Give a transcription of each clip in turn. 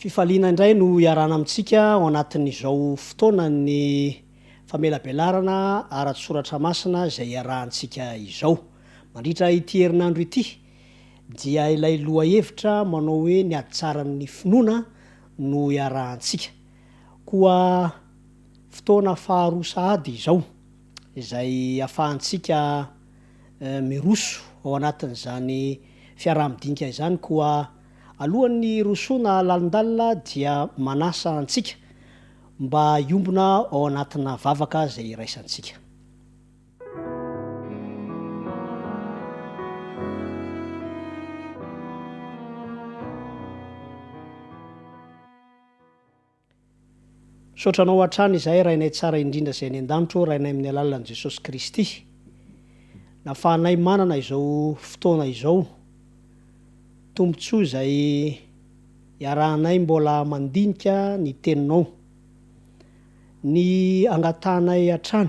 Fifaliana indray no iarahana amintsika ao anatin'izao fotoanan'ny famelabelarana ara-tsoratra masina izay iarahantsika izao. Mandritra ity herinandro ity, dia ilay lohahevitra manao hoe ny hatsaran'ny finoana no iarahantsika. Koa fotoana faharoa sahady izao izay afahantsika miroso ao anatin'izany fiaraha-midinika izany koa alohan'ny hirosoana lalindalina dia manasa antsika mba hiombona ao anatina vavaka izay iraisantsika. Misaotra anao hatrany izahay Rainay tsara indrindra izay any an-danitra ô Rainay amin'ny alalan'i Jesosy Kristy. Nafahanay manana izao fotoana izao. Tombontsoa izay iarahanay mbola mandinika ny Teninao. Ny angatahanay hatrany.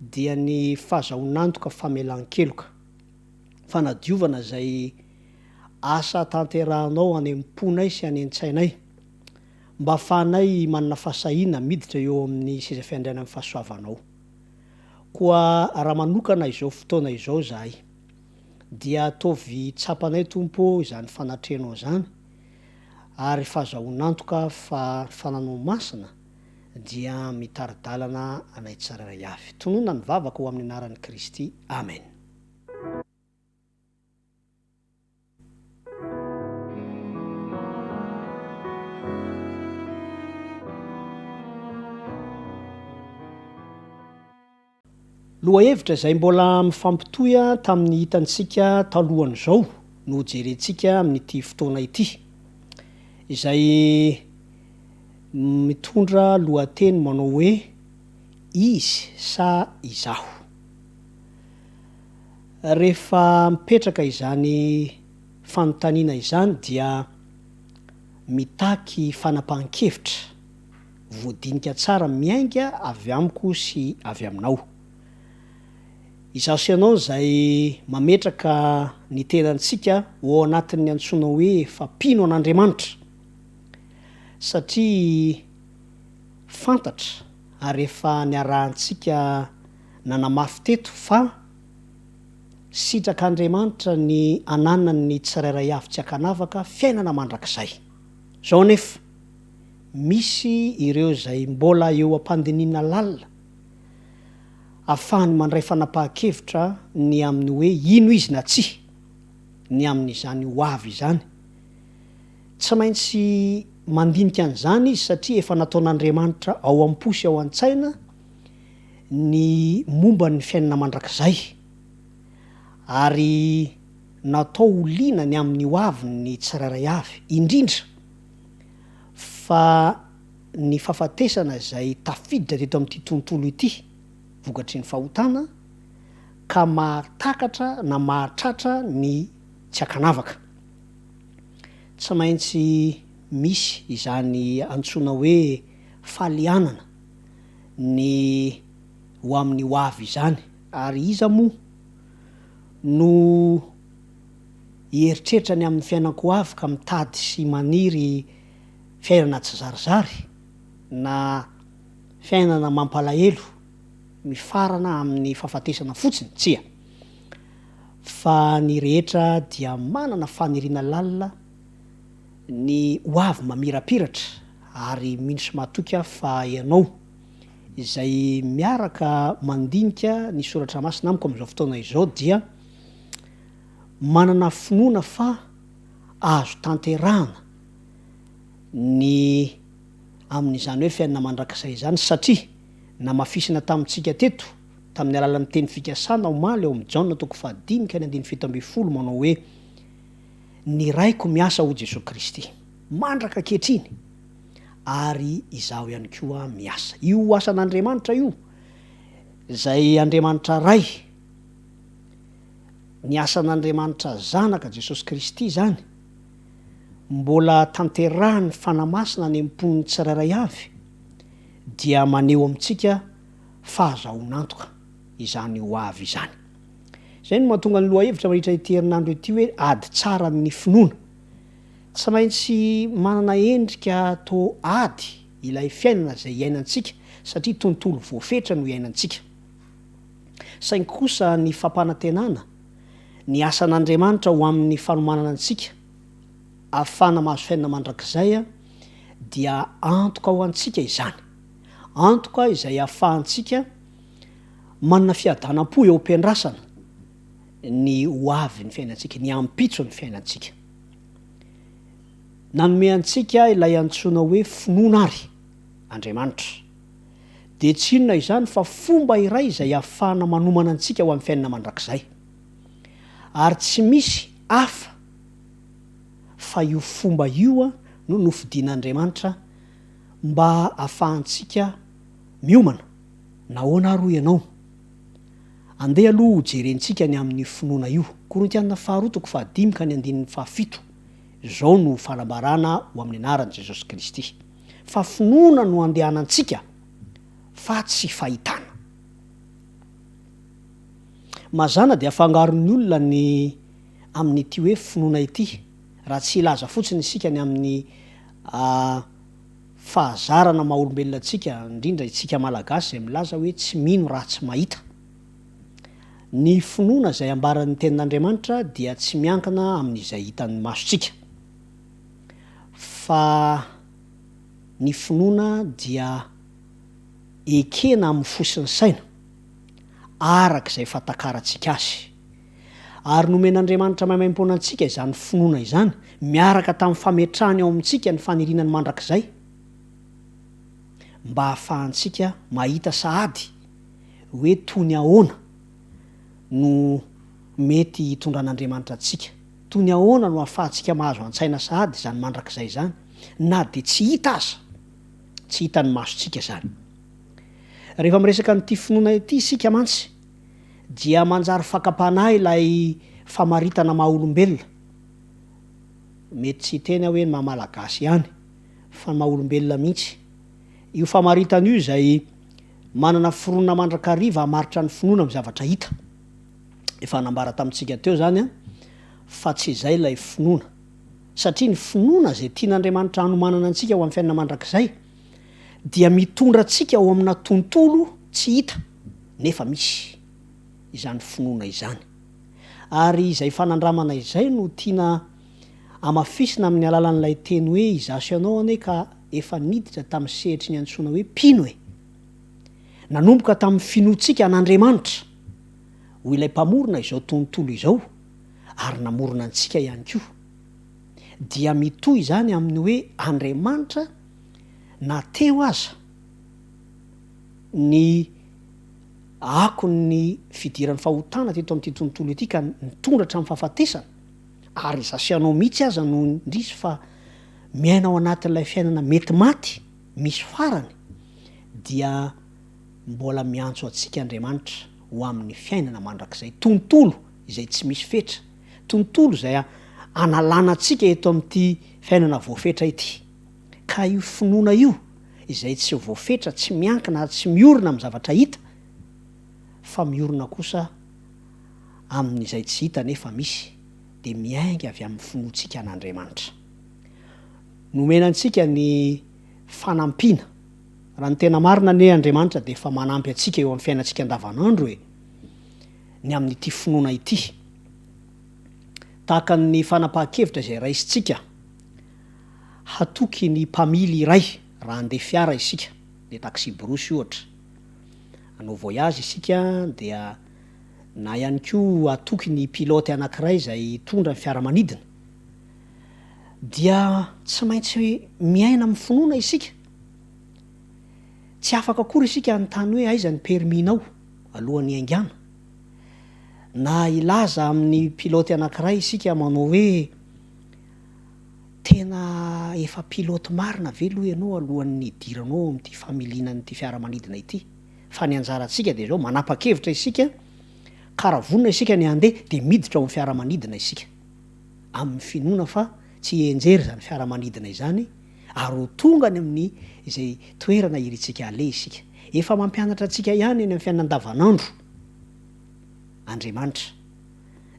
dia ny fazahoan'antoka famelan-keloka, fanadiovana izay asa tanterahanao any am-ponay sy any an-tsainay, mba hahafahanay manana fahasahiana miditra eo amin'ny seza fiandrianan'ny fahasoavanao. Koa raha manokana izao fotoana izao izahay, dia ataovy tsapanay, Tompo ô, izany fanatrehanao izany, ary fazahoan'antoka fa ny fananao masina, dia mitari-dalana anay tsirairay avy. Tononina ny vavako ho amin'ny anaran'i Kristy. Amen. Lohahevitra izay mbola mifampitohy tamin'ny hitantsika talohan'izao no hojerentsika amin'ity fotoana ity, izay mitondra lohateny manao hoe Izy sa Izaho? Rehefa mipetraka izany fanontaniana izany dia mitaky fanapahan-kevitra. Voadinika tsara miainga avy amiko sy avy aminao. Izaho sy ianao izay mametraka ny tenantsika ho ao anatin'ny antsoina hoe fa mpino an'Andriamanitra. Satria fantatra ary efa niarahantsika nanamafy teto fa sitrak'Andriamanitra ny ananan'ny tsirairay avy tsy an-kanavaka fiainana mandrakizay. Izao anefa. misy ireo izay mbola eo am-pandinihina lalina afahany mandray fanapahan-kevitra ny amin'ny hoe ino izy na tsia ny amin'izany ho avy izany. Tsy maintsy mandinika an'izany izy satria efa nataon'Andriamanitra ao am-po sy ao an-tsaina ny momba ny fiainana mandrakizay ary natao ho liana ny amin'ny ho avin'ny tsirairay avy, indrindra, fa ny fahafatesana izay tafiditra teto amin'ity tontolo ity vokatry ny fahotana ka mahatakatra na mahatratra ny tsy ankanavaka. Tsy maintsy misy izany antsoina hoe falianana ny ho amin'ny hoavy izany ary iza moa no hieritreritra ny amin'ny fiainan-ko avy ka mitady sy maniry fiainana tsizarizary na fiainana mampalahelo mifarana amin'ny fahafatesana fotsiny? Tsia. Fa ny rehetra dia manana faniriana lalina ny ho avy mamirapiratra ary mino sy matoky aho fa ianao izay miaraka mandinika ny soratra masina amiko amin'izao fotoana izao dia Manana finoana fa azo tanterahana ny amin'izany hoe fiainana mandrakizay izany satria namafisina tamintsika teto tamin'ny alalan'ny teny fikasana omaly ao amin'ny Jaona toko fahadimy ka ny andininy fito ambin'ny folo manao hoe Ny Raiko miasa hoy Jesoa Kristy mandraka ankehitriny ary izaho ihany koa miasa. Io asan'Andriamanitra io izay Andriamanitra Ray, Ny asan'Andriamanitra Zanaka, Jesosy Kristy, izany, mbola tanterahin'ny Fanahy Masina any am-pon'ny tsirairay avy, dia maneho amintsika fahazahoan'antoka izany ho avy izany. Izay no mahatonga ny lohahevitra mandritra ity herinandro ity hoe ady tsara amin'ny finoana. Tsy maintsy manana endrika toa ady ilay fiainana izay iainantsika, satria tontolo voafetra no iainantsika. saingy kosa ny fampanantenana ny asan'Andriamanitra ho amin'ny fanomanana antsika ahafahana mahazo fiainana mandrakizay dia antoka ho antsika izany, antoka izay ahafahantsika manana fiadanam-po eo am-piandrasana ny ho avy ny fiainantsika, ny ampitso ny fiainantsika. Nanome antsika ilay antsoina hoe finoana ary Andriamanitra. dia tsy inona izany fa fomba iray izay ahafahana manomana antsika ho amin'ny fiainana mandrakizay. Ary tsy misy hafa fa io fomba io no nofidin'Andriamanitra mba hahafahantsika miomana. Nahoana ary hoy ianao? Andeha aloha hojerentsika ny amin'io finoana io. Korintiana faharoa toko fahadimy ka ny andininy fahafito, Izao no fanambarana ho amin'ny anaran'i Jesosy Kristy. fa finoana no andehanantsika fa tsy fahitana. Mazàna dia afangaron'ny olona ny amin'ity hoe finoana ity raha tsy hilaza fotsiny isika ny amin'ny fahazarana maha olombelona antsika, indrindra itsika Malagasy izay milaza hoe tsy mino raha tsy mahita. Ny finoana izay ambaran'ny tenin'Andriamanitra dia tsy miankina amin'izay hitan'ny masontsika. fa ny finoana dia ekena amin'ny fo sy ny saina, araka izay fatakarantsika azy. Ary nomen'Andriamanitra maimaimpoana antsika izany finoana izany, miaraka tamin'ny fametrahany ao amintsika ny faniriana ny mandrakizay, mba hahafahantsika mahita sahady hoe toy ny ahoana no mety hitondran'Andriamanitra antsika. Toy ny ahoana no ahafahantsika mahazo an-tsaina sahady izany mandrakizay izany, na dia tsy hita aza, tsy hitan'ny masontsika izany? Rehefa miresaka an'ity finoana ity isika mantsy, dia manjary fakam-panahy ilay famaritana maha-olombelona, mety tsy hiteny aho hoe ny maha-malagasy ihany, fa ny maha-olombelona mihitsy, io famaritana io izay manana foronina mandrakariva hamaritra ny finoana amin'ny zavatra hita. Efa nambara tamintsika teo izany an, fa tsy izay ilay finoana. Satria ny finoana izay tian'Andriamanitra hanomanana antsika ho amin'ny fiainana mandrakizay, dia mitondra antsika ao amina tontolo tsy hita, nefa misy, izany finoana izany. Ary izay fanandramana izay no tiana hamafisina amin'ny alalan'ilay teny hoe izaho sy ianao anie ka efa niditra tamin'ny sehatry ny antsoina hoe mpino e! Nanomboka tamin'ny finoantsika an'Andriamanitra. ho ilay mpamorona izao tontolo izao ary namorona antsika ihany koa. Dia mitohy izany amin'ny hoe Andriamanitra na teo aza ny akon'ny fidiran'ny fahotana teto amin'ity tontolo ity ka nitondra hatramin'ny fahafatesana, ary izaho sy ianao mihitsy aza no indrisy fa miaina ao anatin'ilay fiainana mety maty misy farany, dia. Mbola miantso antsika Andriamanitra ho amin'ny fiainana mandrakizay, tontolo izay tsy misy fetra, tontolo izay hanalana antsika eto amin'ity fiainana voafetra ity. Ka io finoana io izay tsy voafetra, tsy miankina ary tsy miorina amin'ny zavatra hita, fa miorina kosa amin'izay tsy hita nefa misy, dia miainga avy amin'ny finoantsika an'Andriamanitra. Nomena antsika ny fanampiana. Raha ny tena marina anie Andriamanitra dia efa manampy antsika eo amin'ny fiainantsika andavanandro e! ny amin'ity finoana ity. Tahaka ny fanapahan-kevitra izay raisintsika hatoky ny mpamily iray raha handeha fiara isika, handeha taxi-brousse ohatra, hanao voyage isika dia na ihany koa hatoky ny pilote anankiray izay hitondra ny fiaramanidina dia tsy maintsy miaina amin'ny finoana isika. Tsy afaka akory isika hanontany hoe aiza ny permis-nao alohan'ny haingana. Na hilaza amin'ny pilote anankiray isika manao hoe tena efa pilote marina ve aloha ianao alohan'ny hidiranao ao amin'ity familiana an'ity fiaramanidina ity? Fa ny anjarantsika dia izao, manapa-kevitra isika ka raha vonona isika ny handeha dia miditra ao amin'ny fiaramanidina isika amin'ny finoana fa tsy hienjery izany fiaramanidina izany ary ho tonga any amin'ny izay toerana irintsika haleha isika. Efa mampianatra antsika ihany eny amin'ny fiainana andavanandro Andriamanitra.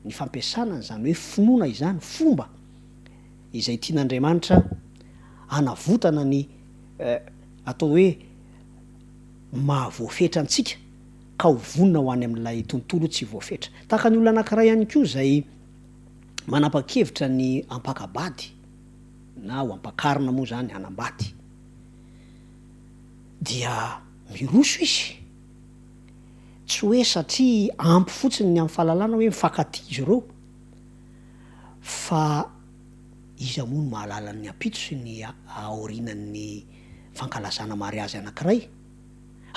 Ny fampiasana an'izany hoe finoana izany, fomba izay tian'Andriamanitra hanavotana ny atao hoe maha voafetra antsika ka ho vonona ho any amin'ilay tontolo tsy voafetra. Tahaka ny olona anankiray ihany koa izay manapa-kevitra ny hampaka-bady. na ho ampakarina moa izany hanambady, dia miroso izy, tsy hoe satria ampy fotsiny ny amin'ny fahalalana hoe mifankatia izy ireo, fa iza moa no mahalala ny ampitso sy ny aorianan'ny fankalazana mariazy anankiray?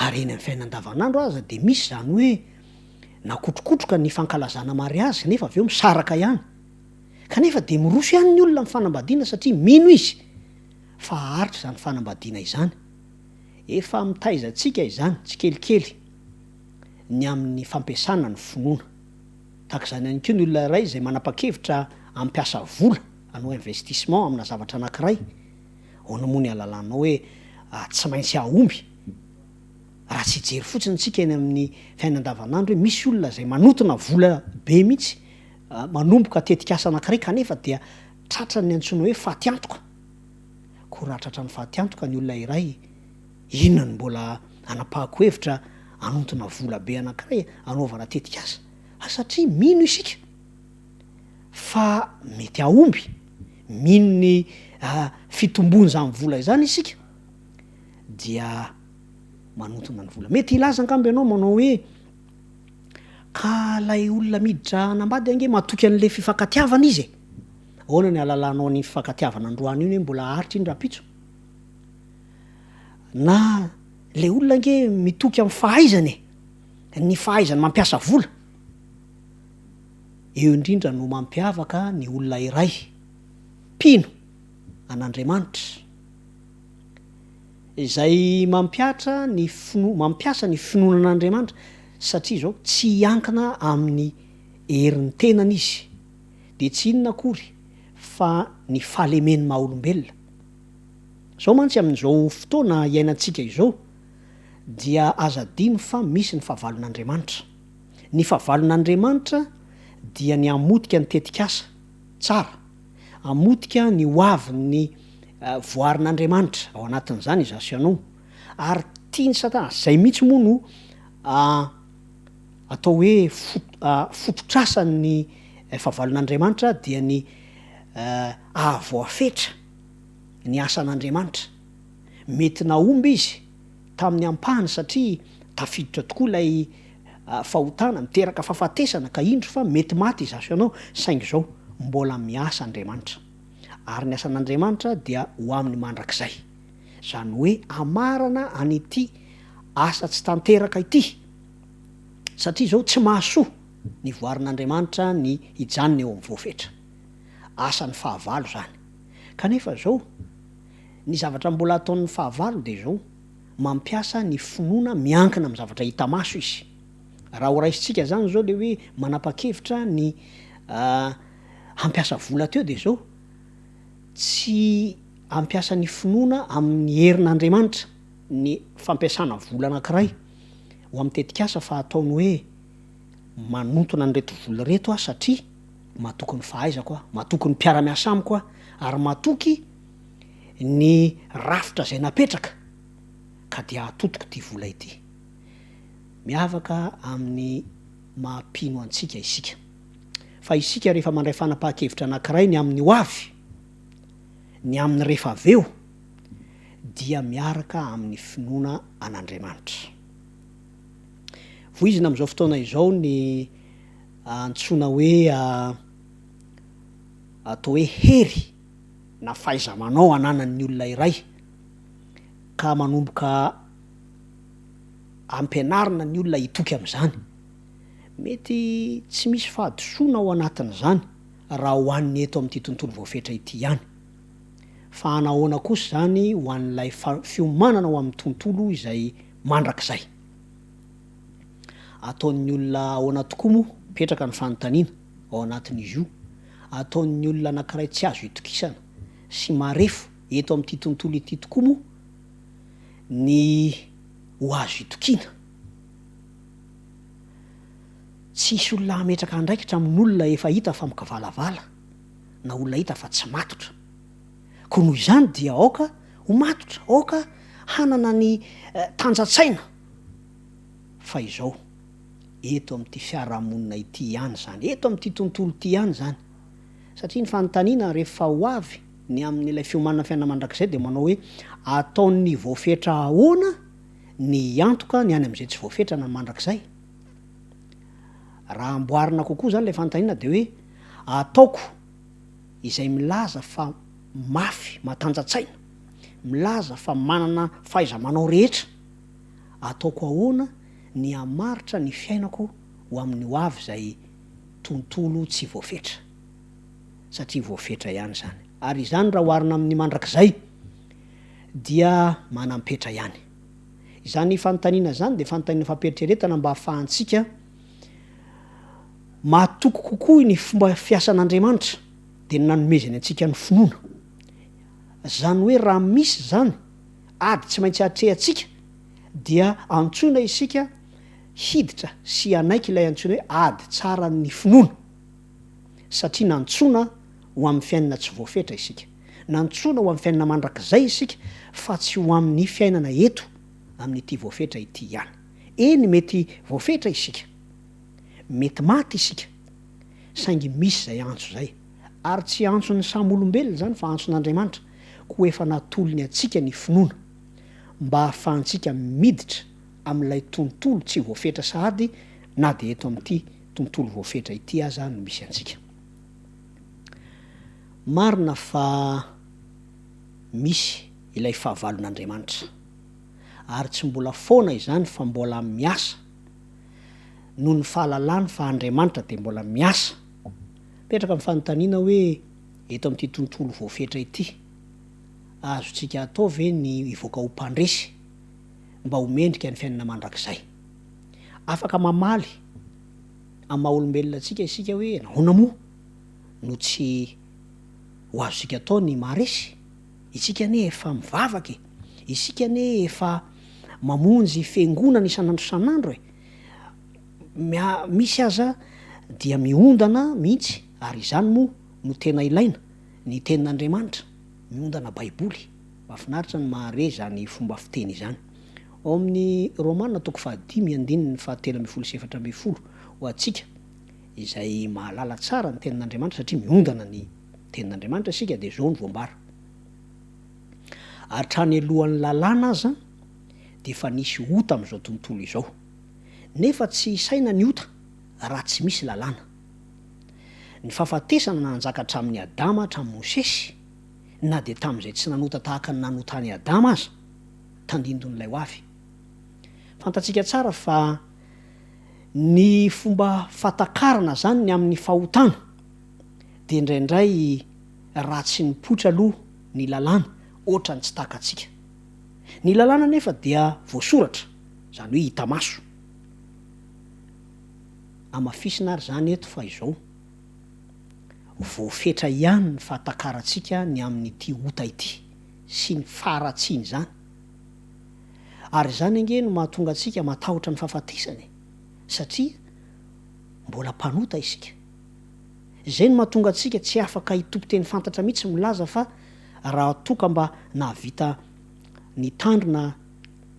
Ary eny amin'ny fiainana andavanandro aza dia misy izany hoe nakotrokotroka ny fankalazana mariazy nefa avy eo misaraka ihany. Kanefa dia miroso ihany ny olona amin'ny fanambadiana satria mino izy fa haharitra izany fanambadiana izany. Efa mitaiza antsika izany tsikelikely ny amin'ny fampiasana ny finoana. Tahaka izany ihany koa ny olona iray izay manapa-kevitra hampiasa vola hanao investissement amina zavatra anankiray, ahoana moa ny ahalalànao hoe tsy maintsy hahomby? Raha tsy hijery fotsiny isika eny amin'ny fiainana andavanandro hoe misy olona izay manotona vola be mihitsy Manomboka tetikasa anankiray kanefa dia tratran'ny antsoina hoe fatiantoka. Koa raha tratran'ny fatiantoka ny olona iray, inona no mbola hanapahako hevitra hanontona vola be anankiray hanaovana tetikasa? Ary satria mino isika fa mety hahomby, mino ny fitombon'izany vola izany isika dia manontona ny vola. Mety hilaza angamba ianao manao hoe. Ka ilay olona miditra hanambady ange matoky an'ilay fifankatiavana izy e! Ahoana ny ahalalànao an'iny fifankatiavana androany iny hoe mbola haharitra iny rahampitso? Na ilay olona ange mitoky amin'ny fahaizany e! Ny fahaizany mampiasa vola. Eo indrindra no mampiavaka ny olona iray mpino an'Andriamanitra. Izay mampiatra ny finoa, mampiasa ny finoana an'Andriamanitra satria izao, tsy hiankina amin'ny herin'ny tenany izy, dia tsy inona akory fa ny fahalemen'ny maha-olombelona. Izao mantsy amin'izao fotoana iainantsika izao dia aza adino fa misy ny fahavalon'Andriamanitra. Ny fahavalon'Andriamanitra dia ny hamotika ny tetikasa tsara. Hamotika ny hoavin'ny voarin'Andriamanitra, ao anatin'izany i Zasianon, ary tian'i Satana, izay mihitsy moa no atao hoe fototrasan'ny fahavalon'Andriamanitra, dia ny hahavoafetra ny asan'Andriamanitra. Mety nahomby izy. tamin'ny ampahany satria tafiditra tokoa ilay fahotana miteraka fahafatesana ka indro fa mety maty izaso ianao saingy izao mbola miasa Andriamanitra ary ny asan'Andriamanitra dia ho aminy mandrakizay izany hoe amarana an'ity asa tsy tanteraka ity satria izao tsy mahasoa ny voarin'Andriamanitra ny hijanona eo amin'ny voafetra asan'ny fahavalo izany kanefa izao Ny zavatra mbola ataon'ny fahavalo dia izao, mampiasa ny finoana miankina amin'ny zavatra hita maso izy. Raha horaisintsika izany izao ilay hoe manapa-kevitra ny hampiasa vola teo dia izao, tsy ampiasa ny finoana amin'ny herin'Andriamanitra ny fampiasana vola anankiray ho amin'ny tetikasa fa ataony hoe manintona an'ireto vola ireto aho satria matoky ny fahaizako aho, matoky ny mpiara-miasa amiko aho ary matoky ny rafitra izay napetraka ka dia atotiko ity vola ity. Miavaka amin'ny maha mpino antsika isika. Fa isika rehefa mandray fanapahan-kevitra anankiray ny amin'ny ho avy, ny amin'ny rehefa avy eo, dia miaraka amin'ny finoana an'Andriamanitra. Voizina amin'izao fotoana izao ny antsoina hoe atao hoe hery. na fahaiza-manao ananan'ny olona iray ka manomboka ampianarina ny olona hitoky amin'izany. Mety tsy misy fahadisoana ao anatin'izany raha ho an'ny eto amin'ity tontolo voafetra ity ihany. Fa hanahoana kosa izany ho an'ilay fiomanana ho amin'ny tontolo izay mandrakizay? Ataon'ny olona ahoana tokoa moa? Mipetraka ny fanontaniana ao anatin'izy io. ataon'ny olona anankiray tsy azo itokisana sy marefo eto amin'ity tontolo ity tokoa moa ny ho azo itokiana. Tsy hisy olona hametraka andraikitra amin'olona efa hita fa mikavalavala na olona hita fa tsy matotra. Koa noho izany dia aoka ho matotra, aoka hanana ny tanjan-tsaina fa izao. eto amin'ity fiarahamonina ity ihany izany, eto amin'ity tontolo ity ihany izany. Satria ny fanontaniana rehefa ho avy ny amin'ilay fiomanana fiainana mandrakizay dia manao hoe, ataon'ny voafetra ahoana ny hiantoka ny any amin'izay tsy voafetrana mandrakizay? Raha amboarina kokoa izany ilay fanontaniana dia hoe, ataoko izay milaza fa mafy matanjatsaina, milaza fa manana fahaiza-manao rehetra, ataoko ahoana ny hamaritra ny fiainako ho amin'ny ho avy izay tontolo tsy voafetra. Satria voafetra ihany izany. Ary izany raha oharina amin'ny mandrakizay dia manam-petra ihany. Izany fanontaniana izany dia fanontaniana fampieritreretana mba hahafahantsika mahatoky kokoa ny fomba fiasan'Andriamanitra dia ny nanomezany antsika ny finoana. Izany hoe raha misy izany ady tsy maintsy atrehantsika, dia antsoina isika hiditra sy hanaiky ilay antsoina hoe ady tsaran'ny finoana, satria nantsoina ho amin'ny fiainana tsy voafetra isika. Nantsoina ho amin'ny fiainana mandrakizay isika, fa tsy ho amin'ny fiainana eto amin'ity voafetra ity ihany. Eny, mety voafetra isika, mety maty isika, saingy misy izay antso izay. Ary tsy antson'ny samy olombelona izany, fa antson'Andriamanitra, koa efa natolony antsika ny finoana. mba hahafahantsika miditra amin'ilay tontolo tsy voafetra sahady na dia eto amin'ity tontolo voafetra ity aza no misy antsika. Marina fa misy ilay fahavalon'Andriamanitra, ary tsy mbola foana izany fa mbola miasa, noho ny fahalalany fa Andriamanitra dia mbola miasa. Mipetraka ny fanontaniana hoe, eto amin'ity tontolo voafetra ity, Azontsika atao ve ny hivoaka ho mpandresy mba ho mendrika ny fiainana mandrakizay? Afaka mamaly amin'ny maha-olombelona antsika isika hoe nahoana moa no tsy ho azontsika atao ny maharesy? Isika anie efa mivavaka e! Isika anie efa mamonjy fiangonana isan'andro isan'andro e! Misy aza dia miondana mihitsy, ary izany moa no tena ilaina. ny tenin'Andriamanitra, miondana baiboly. Mahafinaritra ny mahare izany fomba fiteny izany. Ao amin'ny Romana toko fahadimy andininy fahatelo ambin'ny folo sy efatra ambin'ny folo ho antsika izay mahalala tsara ny tenin'Andriamanitra satria miondana ny tenin'Andriamanitra isika dia izao no voambara. Hatrany alohan'ny lalàna aza dia efa nisy ota amin'izao tontolo izao. Nefa tsy isaina ny ota raha tsy misy lalàna. Ny fahafatesana nanjaka hatramin'i Adama hatramin'i Mosesy, na dia tamin'izay tsy nanota tahaka ny nanota an'i Adama aza, tandindon'ilay hoavy. Fantatsika tsara fa ny fomba fahatakarana izany ny amin'ny fahotana, dia indraindray raha tsy nipoitra aloha ny lalàna, hoatran'ny tsy takatsika. Ny lalàna anefa dia voasoratra, izany hoe hita maso. hamafisina ary izany eto fa izao, voafetra ihany ny fahatakarantsika ny amin'ity ota ity sy ny faharatsian'izany. Ary izany ange no mahatonga antsika matahotra ny fahafatesana e! satria mbola mpanota isika. Izay no mahatonga antsika tsy afaka hitopy teny fantatra mihitsy milaza fa raha toa ka mba nahavita nitandrina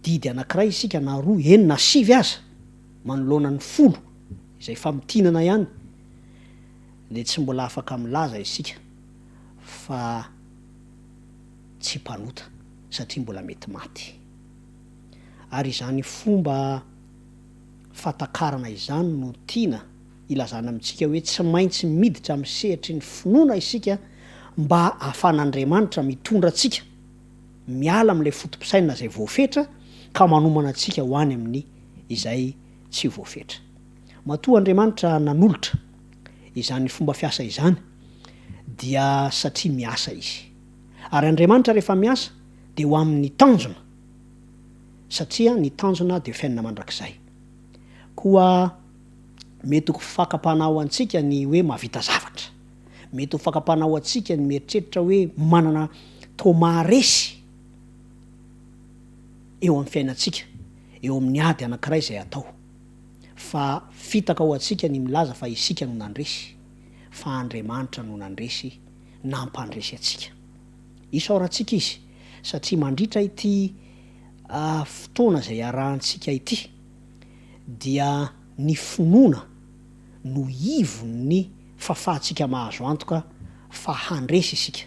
didy anankiray isika na roa, eny na sivy aza, manoloana ny folo izay famintinana ihany dia tsy mbola afaka milaza isika fa tsy mpanota satria mbola mety maty. Ary izany fomba fatakarana izany no tiana ilazana amintsika hoe tsy maintsy miditra amin'ny sehatry ny finoana isika mba ahafan'Andriamanitra mitondra antsika. miala amin'ilay foto-pisainana izay voafetra ka manomana antsika ho any amin'ny izay tsy voafetra. Matoa Andriamanitra nanolotra izany fomba fiasa izany dia satria miasa Izy. Ary Andriamanitra rehefa miasa dia ho amin'ny tanjona satria ny tanjona dia fiainana mandrakizay. Koa mety ho fakam-panahy ho antsika ny hoe mahavita zavatra. Mety ho fakam-panahy ho antsika ny mieritreritra hoe manana trauma resy eo amin'ny fiainantsika eo amin'ny ady anankiray izay atao. Fa fitaka ho antsika ny milaza fa isika no nandresy, fa Andriamanitra no nandresy, nampandresy antsika. Isaorantsika Izy satria mandritra ity fotoana izay iarahantsika ity dia ny finoana, no ivon'ny fahafahantsika mahazo antoka fa handresy isika.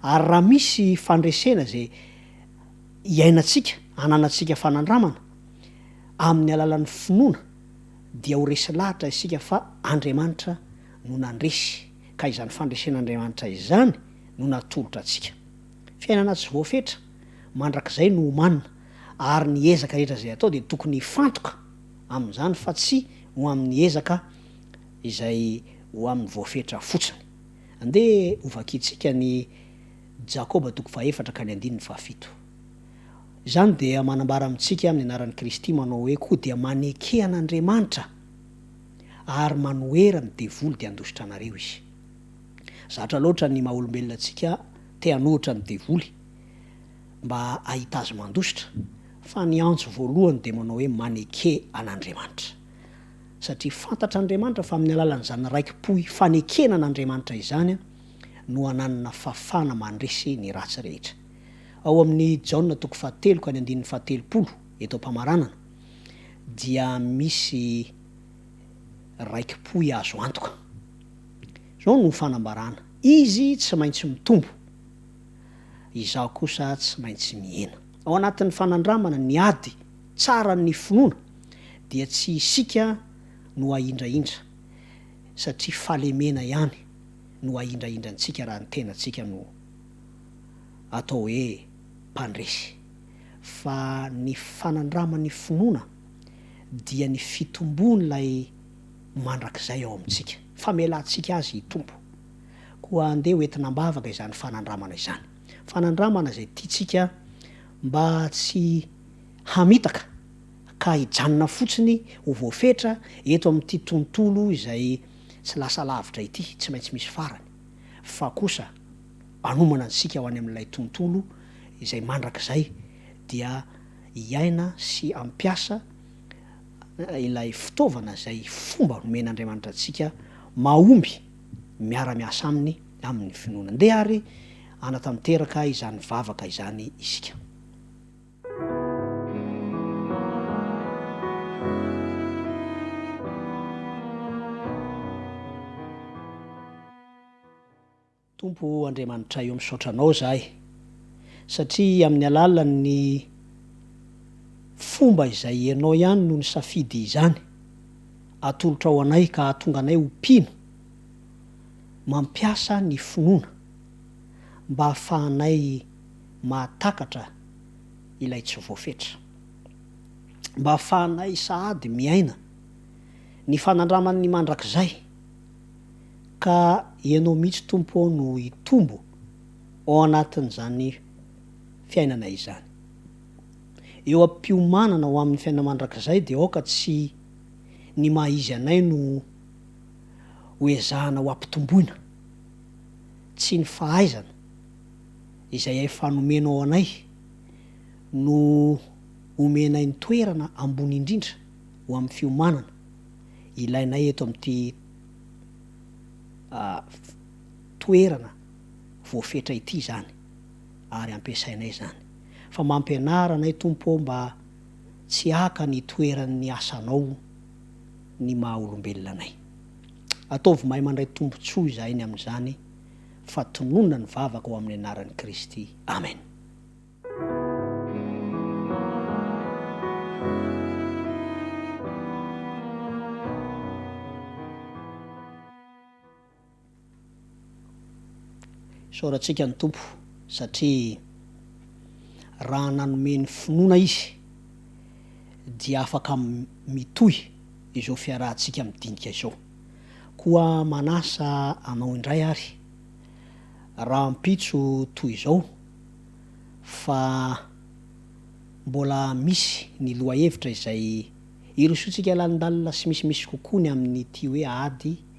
Ary raha misy fandresena izay iainantsika, ananantsika fanandramana, amin'ny alalan'ny finoana, dia ho resy lahatra isika fa Andriamanitra no nandresy, ka izany fandresen'Andriamanitra izany no natolotra antsika. Fiainana tsy voafetra mandrakizay no omanina, ary ny ezaka rehetra izay atao dia tokony hifantoka amin'izany fa tsy ho amin'ny ezaka izay ho amin'ny voafetra fotsiny. Andeha hovakiantsika ny Jakoba toko fahefatra ka ny andininy fahafito. Izany dia manambara amintsika amin'ny anaran'i Kristy manao hoe koa dia maneke an'Andriamanitra ary manohera ny devoly dia handositra anareo izy. Zatra loatra ny maha-olombelona antsika te hanohitra ny devoly. mba hahita azy mandositra, fa ny antso voalohany dia manao hoe maneke an'Andriamanitra. Satria fantatra Andriamanitra fa amin'ny alalan'izany raiki-po hifanekena an'Andriamanitra izany no ananana fafana mandresy ny ratsy rehetra. Ao amin'ny Jaona toko fahatelo ka ny andininy fahatelopolo eto am-pamaranana dia misy raiki-pohy azo antoka. Izao no fanambarana, Izy tsy maintsy mitombo. Izaho kosa tsy maintsy mihena. Ao anatin'ny fanandramana ny ady tsaran'ny finoana dia tsy isika no ahindrahindra satria fahalemena ihany no ahindrahindra antsika raha ny tenantsika no atao hoe mpandresy fa ny fanandraman'ny finoana dia ny fitomboan'ilay mandrakizay ao amintsika, famelantsika azy hitombo. Koa andeha ho entina am-bavaka izany fanandramana izany. Fanandramana izay tiantsika mba tsy hamitaka ka hijanona fotsiny ho voafetra eto amin'ity tontolo izay tsy lasa lavitra ity, tsy maintsy misy farany, fa kosa hanomana antsika ho any amin'ilay tontolo izay mandrakizay dia hiaina sy hampiasa ilay fitaovana izay fomba nomen'Andriamanitra antsika mahomby. miara-miasa aminy amin'ny finoana. Ndeha àry hanatanteraka izany vavaka izany isika. Tompo Andriamanitray ô, misaotra Anao izahay, satria amin'ny alalan'ny fomba izay Ianao ihany no nisafidy izany atolotrao anay ka hahatonga anay ho mpino mampiasa ny finoana mba hahafahanay mahatakatra ilay tsy voafetra. Mba hahafahanay sahady miaina ny fanandraman'ny mandrakizay ka Ianao mihitsy Tompo ô no hitombo ao anatin'izany fiainana izany. Eo am-piomanana ho amin'ny fiainana mandrakizay dia aoka tsy ny maha izy anay no ho ezahana ho ampitomboina. Tsy ny fahaizana izay efa nomenao anay no omenay ny toerana ambony indrindra ho amin'ny fiomanana ilainay eto amin'ity toerana voafetra ity izany. ary ampiasainay izany. Fa mampianara anay Tompo ô mba tsy haka ny toeran'ny asanao ny maha olombelona anay. Ataovy mahay mandray tombotsoa izahay ny amin'izany fa tononina ny vavaka ho amin'ny anaran'i Kristy. Amen. Isaorantsika ny Tompo satria raha nanome ny finoana Izy dia afaka mitohy izao fiarahantsika midinika izao. Koa manasa anao indray ary rahampitso toy izao fa mbola misy ny lohahevitra izay irosoantsika lalindalina sy misimisy kokoa ny amin'ity hoe ady